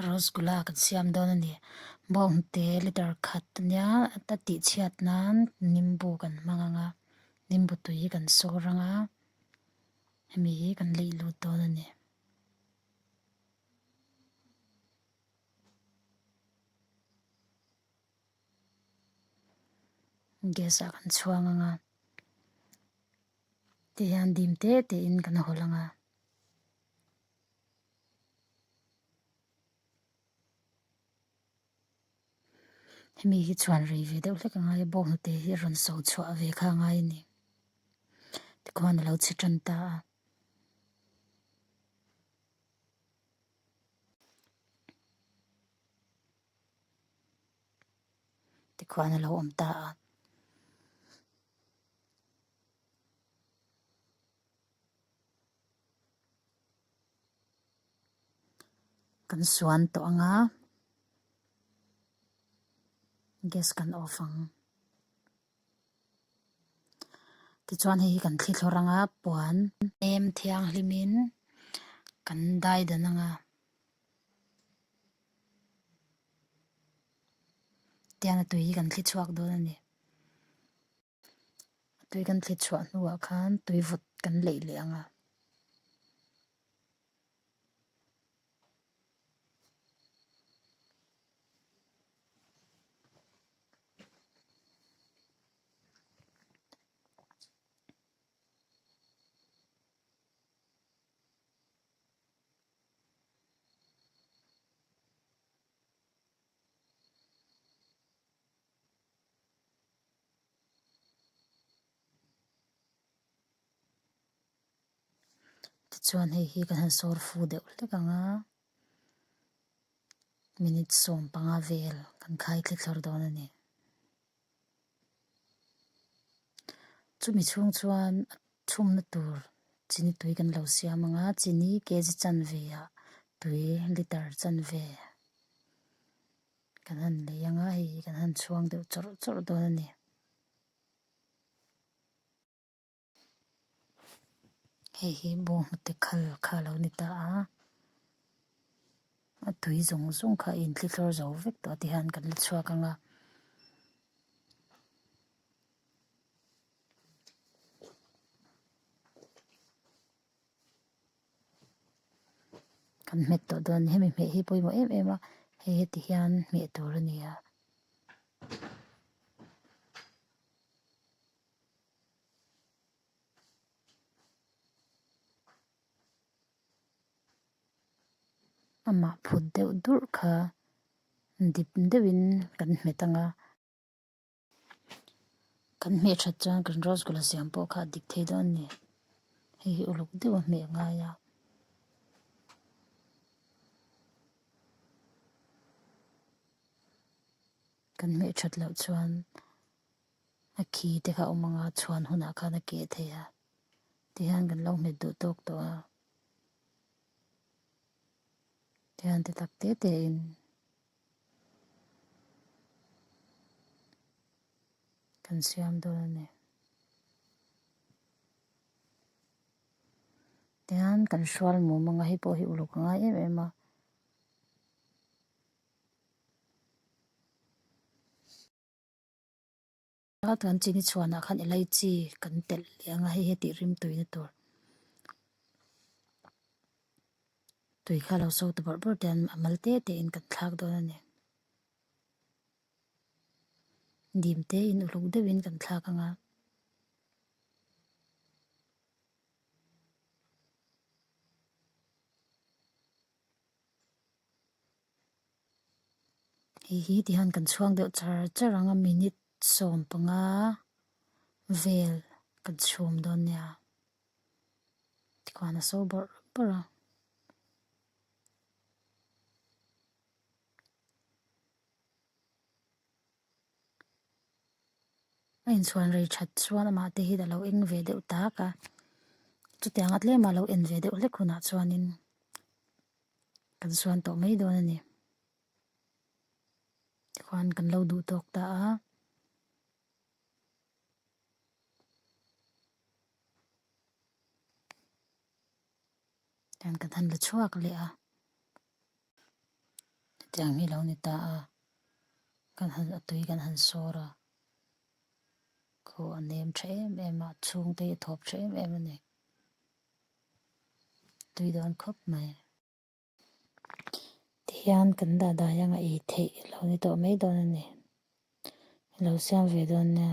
Rosgulla kan siam dawn a ni bawngte litre khat nia a tih chhiat nan nimbu kan hmang ang a nimbu tui hi kan sawi rang a hemi hi kan laih lut dawn a ni. Gas ah kan chhuang ang a ti hian dim te te in kan haw lang a. Hemi hi chhuan rei ve deuh hlek a ngai a bawk hnute hi a rawn sawi chhuah ve kha a ngai a ni tikhon a lo chhe tan ta a tikhon a lo awm ta a. Kan suan tawh ang a, gas kan off ang. Tichuan hei hi kan thli thlawrh ang a, puan em thianghlimin kan dai dan ang a. Tiang a tui hi kan thli chhuak dawn a ni. tui kan thlit chhuah hnuah khan tui vut kan leih leh ang a. Tichuan hei hi ka han sâwr fu deuh hlek ang a minute sawm panga vêl kan khai thli thlawr dawn a ni chumi chhûng chuan a chhûmna tûr chini tui kan lo siam ang a chini kg chanve ah tui litre chanve. Kan han lei ang a hei hi kan han chhuang deuh chawrh chawrh dawn a ni. Hei hi bawng hnute khal kha a lo ni ta a, a tui zawng zawng kha a intlihlawr zo vek tawh a ti hian kan la chhuak ang a. Kan hmet tawh dawn hemi hmeh hi pawimawh em em a hei heti hian hmeh tur a ni a. Amah phut deuh durh kha dip deuhin kan hmet ang a. Kan hmeh that chuan kan rose gold-a siam pawh kha a dik thei dawn a ni. Hei hi uluk deuh a hmeh ngai a. Kan hmeh that loh chuan a khi te kha a awm anga chhuan hunah khan a keh thei a. Tihian kan lo hmet duh tawk tawh a. Tihian ti tak tete in. kan siam dawn a ni. Tichuan kan hrual muh mawngah hi pawh hi uluk a ngai em em a. Ka tuan chi ni chhuan ah khan elai chi kan telh leh anga hei hi tih rim tui na tur tui kha lo sawi ta bawrh bawrh te an a mal te te in kan thlak dawn a ni dim te in uluk deuh in kan thlak anga Hei hi ti hian kan chhuang deuh char char ang a minute sawm panga vel kan chhum dawn nia tikuan a sawi bar bar a. a inchhuan rei that chuan amah te hi a lo eng ve deuh tak a chuti anga tlem a lo en ve deuh hlek hunah chuanin kan suan tawh mai dawn a ni tikhuan kan lo duh tawk ta a. hetiang hi lo ni ta a, kan han a tui kan han sawr a, khaw a nem tha em em a, chhung te hi a thawp tha em em a ni, tui dawn khawp mai. Tihian kan dahdai anga ei theih lo ni tawh mai dawn a ni, i lo siam ve dawn nia.